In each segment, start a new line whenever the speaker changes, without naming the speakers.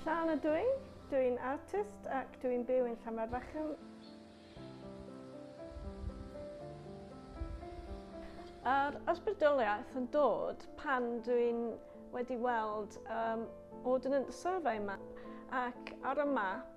Llan ydw i, dw i'n artist ac dw i'n byw yn Llamarfachan. Yr ysbrydoliaeth yn dod pan dw i'n wedi weld um, ordnance survey map ac ar y map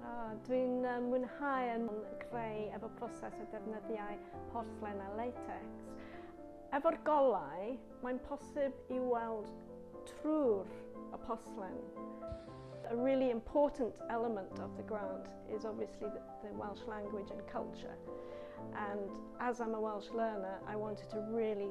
Oh, Dwi'n mwynhau yn creu efo proses o defnyddiau porthlen a latex. Efo'r golau, mae'n posib i weld trwy'r y porthlen. A really important element of the grant is obviously the, the Welsh language and culture. And as I'm a Welsh learner, I wanted to really